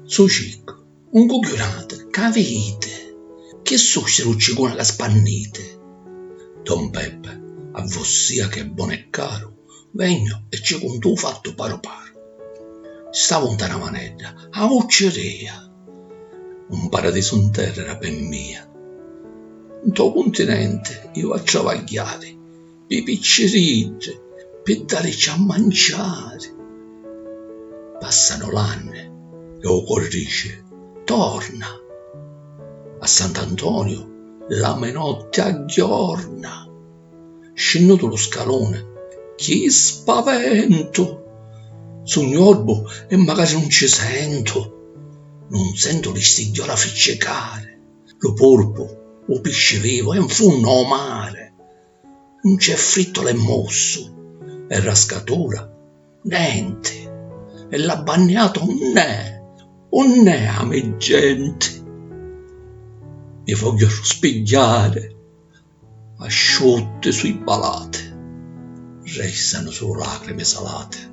Su ciccu, un cugghiunati ca viditi, chi susi lu cicuni ca spanniti? Don Peppi, A vossia chi è bonu e caru, vegnu e ci cuntu u fattu paru paru. Stavu nta na vanedda, aucci ria! Un paradisu 'n terra era pe' mia. Ntô cuntinenti iu a travagghiari pî picciriddi, pi dàricci a manciari. Pàssanu l'anni e ô cori dici, Torna! A Sant'Antoniu l'ami notti a ghiorna. scinnutu lu scaluni, chi spaventu! Sugnu orbu e macari nun ci sentu, nun sentu li stigghiora friccicari, lu purpu, u pisci vivu è 'nfunnu o mari, nun c'è frittu l'è mossu, e rascatura nenti, e l'abbanniatu unn'è, unn'è a me genti? Mi vogghiu arruspigghiari. Asciutti su' i balati. Restanu sulu lacrimi salati.